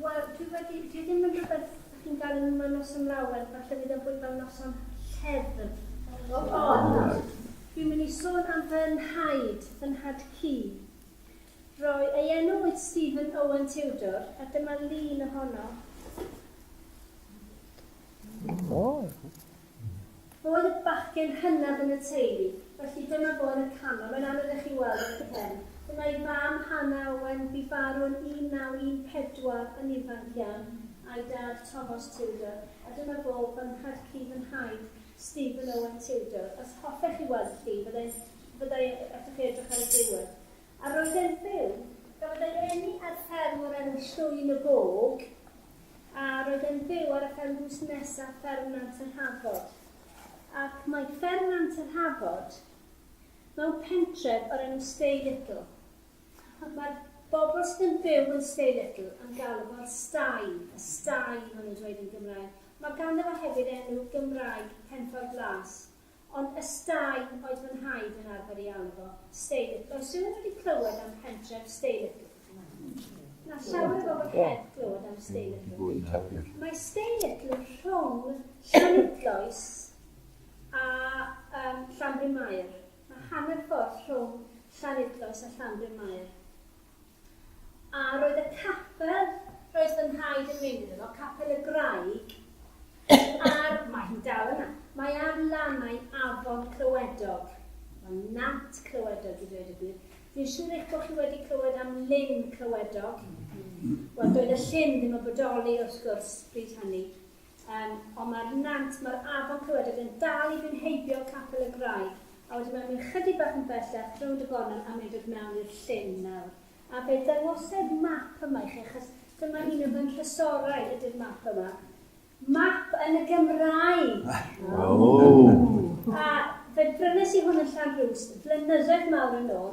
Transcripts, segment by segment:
Wel, dwi wedi, dwi ddim yn rhywbeth dych chi'n gael yn yma noson lawen, falle fydd o'n fwy fel noson lleddf. Ond, dwi'n mynd i sôn am fy nhaid, fy nhad cu. Roi, ei enw oedd Stephen Owen Tudor, a dyma lun ohono. Bod y bachgen hynaf yn y teulu, felly dyma fo yn y canol, mae'n anodd i chi weld yn y cefn. Dyma ei fam, Hannah Owen, bu farw yn 1914, yn ifanc iawn, a'i dad, Tomos Tudor, a dyma fo fan nhad-cu fy nhaid, Stephen Owen Tudor. Os hoffech chi weld y llun, fydda i'n, fydda i, allwch chi edrych ar y diwedd. A roedd e'n byw. Gafodd ei eni ar fferm o'r enw Llwyn y Bog. A roedd e'n byw ar y fferm drws nesa, fferm Nant yr Hafod. Ac mae fferm Nant yr Hafod mewn pentref o'r enw Stay Little. Ac mae'r bobl sydd yn byw yn Stay Little yn galw fo'r Stay, y Stay maen nhw'n dweud yn Gymraeg. Mae ganddo fo hefyd enw Gymraeg, Penffordd Las. Ond Ystâin oedd fy nhaid yn arfer ei alw fo, Steilytl. Oes rhywun wedi clywed am pentref Steilytl? Mae llawer o bobl heb glywed am Steilytl. Mae Steilytl rhwng Llanidloes a um, Llanbryn Mair. Mae hanner ffordd rhwng Llanidloes a Llanbryn Mair. A roedd y capel, roedd fy nhraed yn mynd iddo fo, Capel y Graig, a'r... Mae hi dal yna. Mae ar lannau afon Clywedog. Wel, Nant Clywedog i ddweud y gwir. Fi'n siŵr eich bod chi wedi clywed am Lyn Clywedog. Wel, doedd y llyn ddim yn bodoli, wrth gwrs, bryd hynny. Yym, ond mae'r nant, mae'r afon Cywadog yn dal i fynd heibio Capel y Graig, a wedyn mae'n mynd chydig bach yn bellach, rownd y gornel, a mae'n dod mewn i'r llyn nawr. A fe ddangosai'r map yma i chi, achos dyma un o fy nhrysorau ydy'r map yma. Map yn y Gymraeg! Wow! A fe brynes i hwn yn Llanrwst flynyddoedd mawr yn ôl,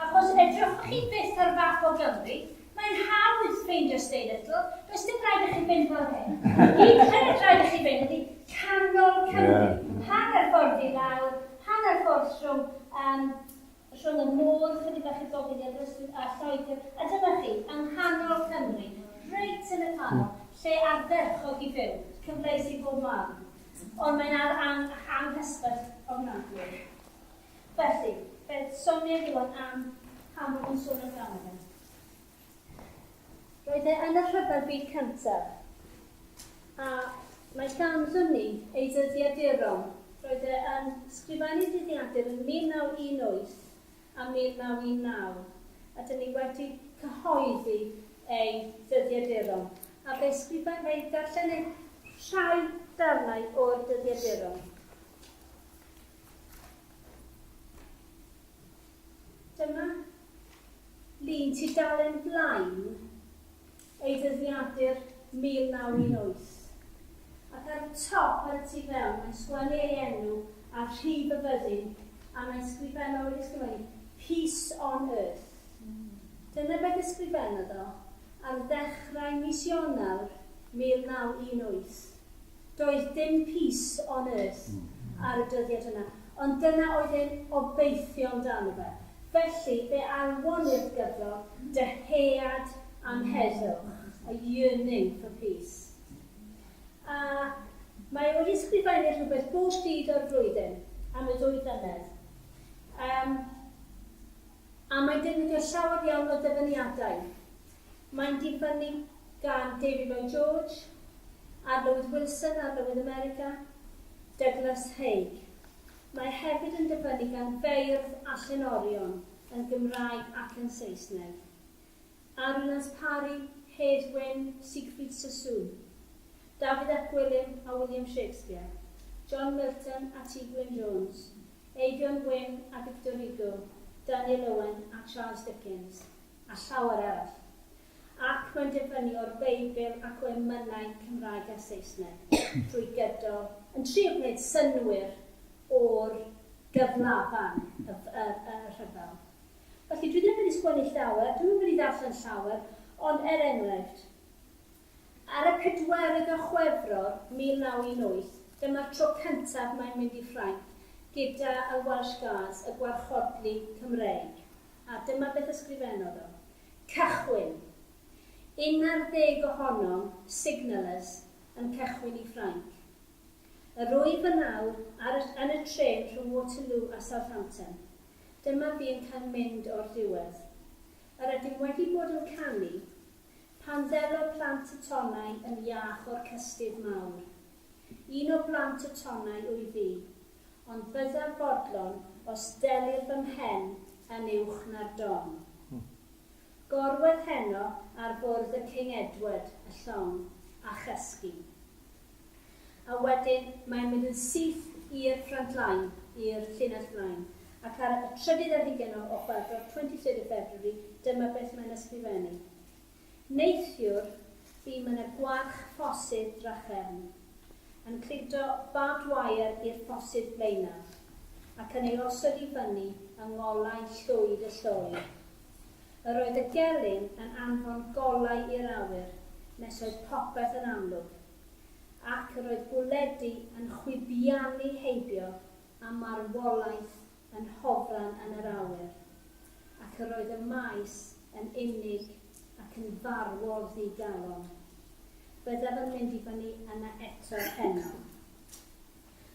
Ac os edrychwch chi byth ar fap o Gymru, mae'n hawdd ffeindio Stay Little, does dim rhaid i chi fynd fel hyn. Hyd yn oed rhaid i chi fynd i canol Cymru, hanner ffordd i lawr, hanner ffordd rhwng yym rhwng y môr, chydig bach i'r gogledd i Aberystwyth a Lloegr, a dyma chi, yng nghanol Cymru, reit yn y canol, lle ardderchog i fyw, cyfleus i bob man, ond mae'n ar- ang- anghysbell ofnadwy. Felly, beth sonia Iwan am pan bod nhw'n sôn amdano fe? Roedd e yn y Rhyfel Byd Cyntaf, a mae ganddyn ni ei ddyddiaduron. Roedd e yn sgrifennu dyddiadur yn 1918 a 1919, a dyn ni wedi cyhoeddi ei ddyddiaduron, a fe sgrifen, fe darllenai rhai darnau o'r dyddiaduron. Dyma lun tudalen blaen ei ddyddiadur 1918, ac ar y top, ar y tu fewn, mae'n sgwennu ei enw a rhif y fyddin, a mae'n sgrifennu, wedi sgrifennu, Peace on Earth. Dyna beth ysgrifennodd o ar ddechrau mis Ionawr 1918. Doedd dim peace on earth ar y dyddiad yna, ond dyna oedd ein obeithion amdano fe. Felly, fe alwon ni'r gyfrol 'Dyhead am Heddwch', a yearning for peace. A mae o wedi ysgrifennu rhywbeth bob dydd o'r flwyddyn am y ddwy flynedd. Yym. A mae'n defnyddio llawer iawn o ddyfyniadau. Mae'n difynnu gan David Lloyd George, Arlywydd Wilson, Arlywydd America, Douglas Haig. Mae hefyd yn dyfynnu gan feirdd a llenorion yn Gymraeg ac yn Saesneg. Arianaz Parry, Hedd Wyn, Siegfried Sassoon, Dafydd ap Gwilym a William Shakespeare, John Milton a Ti Gwyn Jones, Eifion Wyn a Victor Hugo, Daniel Owen a Charles Dickens, a llawer arall. Ac mae'n dibynnu o'r Beibl ac o emynau Cymraeg a Saesneg, drwy gydol, yn trio gwneud synnwyr o'r gyflafan, y rhyfel. Felly, dwi ddim wedi sgwennu llawer, dwi'm yn mynd i ddarllen llawer, ond er enghraifft, ar y pedwerydd o Chwefror 1918, dyma'r tro cyntaf mae'n mynd i Ffrainc gyda y Welsh Guards, y Gwarchodlu Cymreig, a dyma beth ysgrifennodd o, Cychwyn! Un ar ddeg ohonom, signallers, yn cychwyn i Ffrainc. Yr wyf yn awr ar y yn y trên rhwng Waterloo a Southampton. dyma fi yn cael mynd o'r diwedd. Yr ydym wedi bod yn canu, pan ddelo plant y tonnau yn iach o'r cystudd mawr. Un o blant y tonnau wyf fi, ond byddaf fodlon os ddelir fy mhen yn uwch na'r don. Gorwedd heno ar fwrdd y King Edward, y llong, a chysgu. A wedyn mae'n mynd yn syth i'r front line, i'r llinell flaen. Ac ar y trydydd ar hugain o Chwefror, 23rd of February, dyma beth mae'n ysgrifennu, Neithiwr, fi ma' 'na gwarch ffosydd drachefn yn cludo barbed wire i'r ffosydd blaenaf ac yn ei osod i fyny yng ngolau llwyd y lloi. Yr oedd y gelyn yn anfon golau i'r awyr nes oedd popeth yn amlwg, ac yr oedd bwledi yn chwibiannu heibio a marwolaeth yn hofran yn yr awyr, ac yr oedd y maes yn unig ac yn farwol ddi-galon. Byddaf yn mynd i fyny yna eto heno.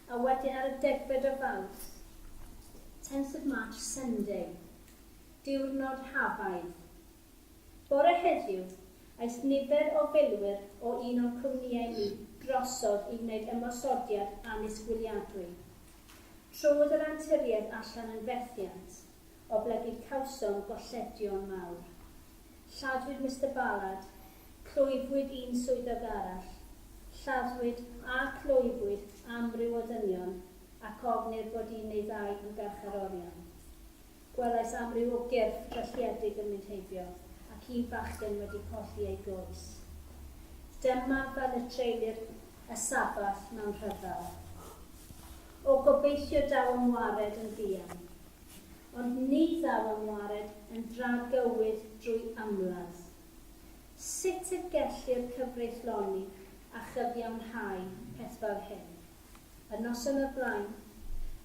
A wedyn ar y degfed o Fawrth, tenth of March, Sunday, diwrnod Hafaidd. Bore heddiw, aeth nifer o filwyr o un o'n cwmnïau ni drosodd i wneud ymosodiad annisgwyliadwy. Trodd yr anturiaeth allan yn fethiant oblegid cawsom golledion mawr. Lladdwyd Mister Ballard, clwyfwyd un swyddog arall, lladdwyd a clwyfwyd amryw o ddynion ac ofnir bod un neu ddau yn garcharorion. Gwelais amryw o gyrff drylliedig yn mynd heibio, ac un fachgen wedi colli ei gwrs. Dyma fel y treulir y Sabbath mewn rhyfel. O, gobeithio daw am wared yn fuan. Ond ni ddaw am wared yn dra gywydd drwy ymladd. Sut y gellir cyfreithloni a chyfiawnhau peth fel hyn? Y noson o'r blaen,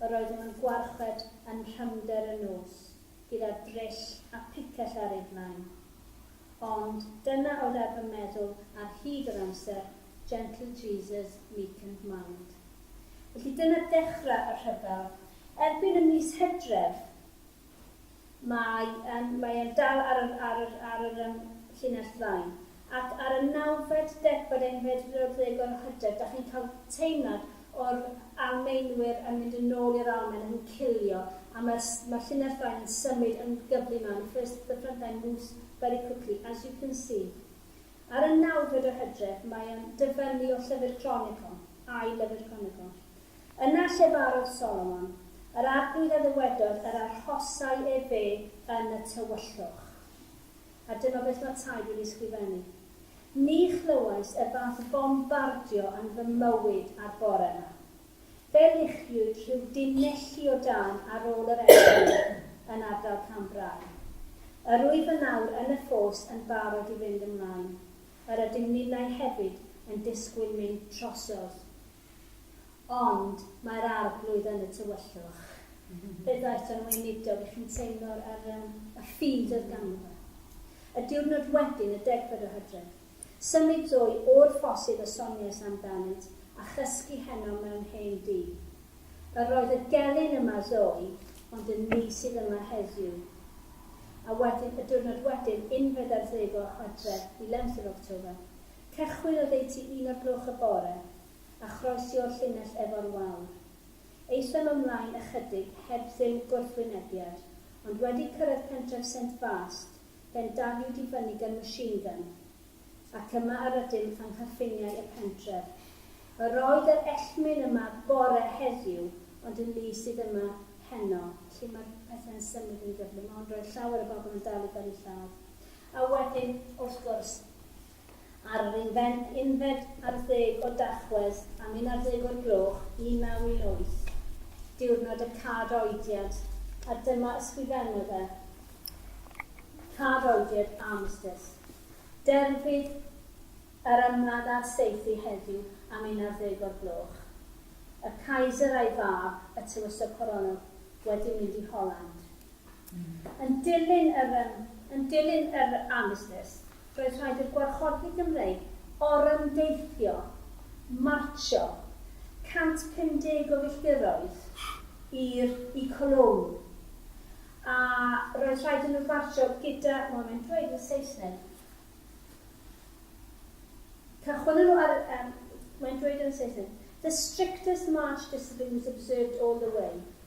yr oeddem yn gwarchod anrhymder y nos gyda drill a phicell ar ei flaen. Ond dyna oedd ar fy meddwl ar hyd yr amser, Gentle Jesus, meek and mild. Felly dyna dechrau y rhyfel. Erbyn y mis Hydref, Mae e'n, mae e'n dal ar yr, ar yr, ar yr yym llinell flaen. Ac ar y nawfed, degfed, unfed rownd lle agor y hyder, dach chi'n cael teimlad o'r Almaenwyr yn mynd yn ôl i'r Almaen, yn cilio, a mae'r, mae'r llinell flaen yn symud yn gyflym iawn. The first, the front line moves very quickly, as you can see. Ar y nawfed o hydref, mae e'n dyfynnu o Llyfr Cronicon, I Lyfr Cronicon. Yna llefarodd Solomon yr arglwydd a ddywedodd yr arhosai ef fe yn y tywyllwch. A dyma beth mae Ty wedi ysgrifennu, Ni chlywais y fath fombardio yn fy mywyd a'r bore yma. Fe luchiwyd rhyw dinelli o dân ar ôl yr egni yn ardal Cambrai. Yr wyf yn awr yn y ffos yn barod i fynd ymlaen. Yr ydym ninnau hefyd yn disgwyl mynd trosodd. Ond mae'r Arglwydd yn y tywyllwch. Beth oedd John Weinidog, ych chi'n teimlo'r yr yym y ffydd oedd ganddo fe? Y diwrnod wedyn, y degfed o Hydref, symud dwy o'r ffosydd y soniais amdanynt a chysgu heno mewn hen dŷ. Yr oedd y gelyn yma ddoe, ond y ni sydd yma heddiw. A wedyn, y diwrnod wedyn, unfed ar ddeg o Hydref, eleventh of October, Cychwyn oddeutu un o'r gloch y bore a chroesio'r llinell efo'r wawr. Aethom ymlaen ychydig heb dduw gwrthwynebiad, ond wedi cyrraedd pentref Saint Vaast, fe'n daliwyd i fyny gan machine gun, ac yma yr ydym yng nghyffiniau y pentref. Yr oedd yr ellmyn yma bore heddiw, ond yn lu sydd yma heno. Lle mae'r pethau'n symud yn gyflym, ond roedd llawer o bobl yn dal i fyny lladd. A wedyn, wrth gwrs, Ar yr unfed ar ddeg o Dachwedd am unarddeg o'r gloch, 1918, diwrnod y cad oediad, a dyma ysgrifennodd e, Cad oediad, armistice. Derfydd yr ymladd a'r saethu heddiw am unarddeg o'r gloch. Y Kaiser a'i fab, y tywysog coronol, wedi mynd i Holland. Yn dilyn yr Yn dilyn yr armistice, roedd rhaid i'r Gwarchodfeydd Gymreig orymdeithio, martsio, 150 o filltiroedd i'r i Cologne, a roedd rhaid i nhw fartsio gyda, wel mae'n dweud yn y Saesneg, cychwynnon nhw ar y, mae'n dweud yn y Saesneg, The strictest march discipline was observed all the way.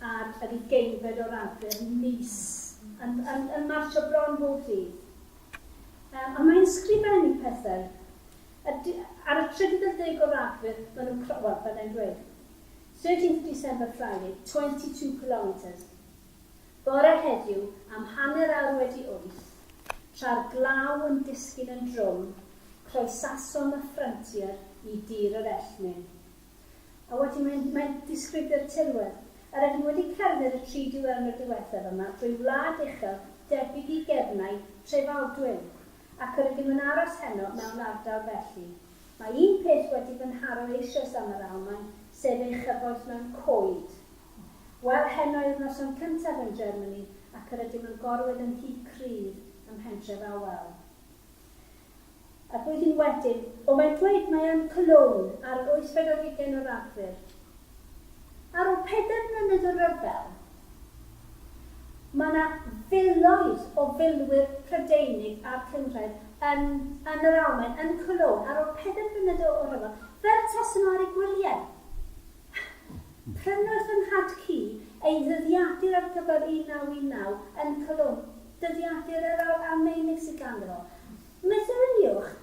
ar yr ugeinfed o Ragfyr, mis, yn, yn, yn martsio bron bob dydd. Um, a mae'n sgrifennu pethau. A di, ar y 30 o Ragfyr, maen nhw'n cro... Wel, byddai'n dweud. 13th December Friday, 22 kilometres. Bore heddiw, am hanner awr wedi wyth, tra'r glaw yn disgyn yn drwm, croesasom y ffryntier i dir yr Elfnin. A wedi mynd, mae'n disgrifio'r tirwedd, a rydym wedi cerdded y tri diwrnod diwethaf yma drwy wlad uchel debyg i gefnau Trefaldwyn, ac rydym yn aros heno mewn ardal felly. Mae un peth wedi fy nharo eisoes am yr Almaen, sef ei chyfoeth mewn coed. Wel, heno yw'r noson cyntaf yn Germany ac rydym yn gorwedd yn nhŷ cryf ym mhentref Awel. Y blwyddyn wedyn, o mae'n dweud mae yn Cologne ar yr wythfed ar hugain o Ragfyr. Ar ol pedair mlynedd o ryfel, mae 'na filoedd o filwyr Prydeinig a'r Cynghrair yn yn yr Almaen, yn Cologne, ar ol pedair mlynedd o o ryfel, fel tasen nhw ar eu gwyliau. Prynodd fy nhad-cu ei ddyddiadur ar gyfer 1919 yn Cologne. Dyddiadur yr aur a'r meunig sydd ganddo. Myfyriwch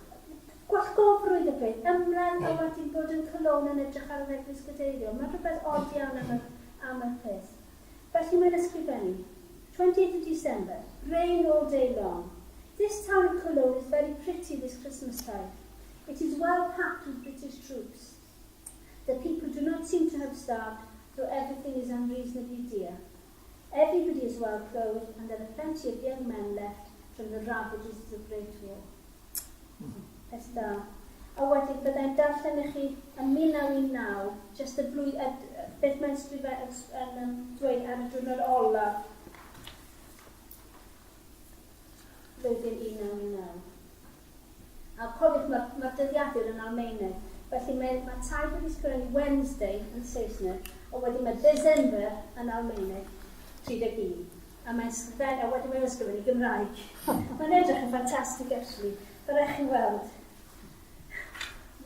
gwallgofrwydd y bryn, ymladd a wedyn bod yn colown yn edrych ar yr eglwys gadeiriol. Mae'n rhywbeth od iawn am yr, am yr peth. Felly mae'n ysgrifennu, 20th of December, rain all day long. This town of Cologne is very pretty this Christmas time. It is well packed with British troops. The people do not seem to have starved, though everything is unreasonably dear. Everybody's well clothed and there are plenty of young men left from the ravages of the Great War. Peth da. A wedyn byddai'n darllen i chi yn 1919, just y blwy- y, beth mae'n sgrifau yn, yn um, dweud ar y diwrnod olaf flwyddyn 1919. A cofiwch, mae'r mae'r dyddiadur yn Almaeneg, felly mae mae Taid wedi sgrennu Wednesday yn Saesneg, a wedyn mae December yn Almaeneg, 31, a mae'n sgren- a wedyn mae'n ysgrifennu Gymraeg. Mae'n edrych yn ffantastig actually, fe rhaid chi weld.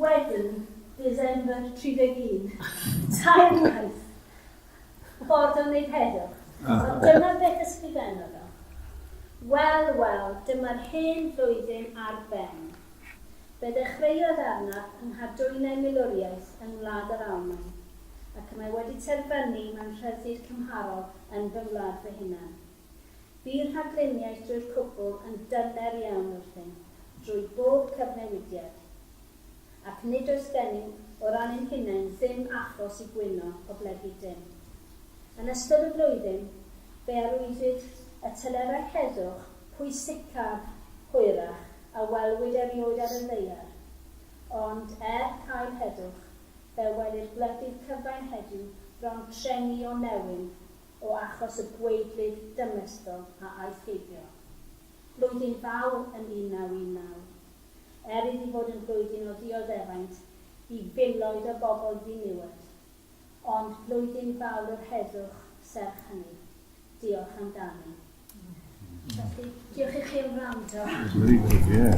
Wedyn, December 31, tair gwaith, Ffordd o wneud heddwch. Ond dyma beth ysgrifennodd o, Wel, wel, dyma'r hen flwyddyn ar ben. Fe ddechreuodd arnaf yng nghadwynau milwriaeth yng ngwlad yr Almaen, ac y mae wedi terfynu mewn rhyddid cymharol yn fy ngwlad fy hunan. Bu rhagluniaeth drwy'r cwbl yn dyner iawn wrthym, drwy bob cyfnewidiad. ac nid oes gennym, o ran ein hunain, ddim achos i gwyno oblegid dim. Yn ystod y flwyddyn, fe arwyddwyd y telerau heddwch pwysicaf hwyrach a welwyd erioed ar y ddaear, ond, er cael heddwch, fe welir gwledydd cyfain heddiw bron trengi o newyn o achos y gweidlydd dymesdol a aeth heibio. Blwyddyn Fawr yn 1919. er iddi fod yn flwyddyn o ddioddefaint i filoedd o bobl ddiniwed, ond blwyddyn fawr yr heddwch serch hynny. Diolch amdani. Felly, diolch i chi am wrando. Very good, yeah.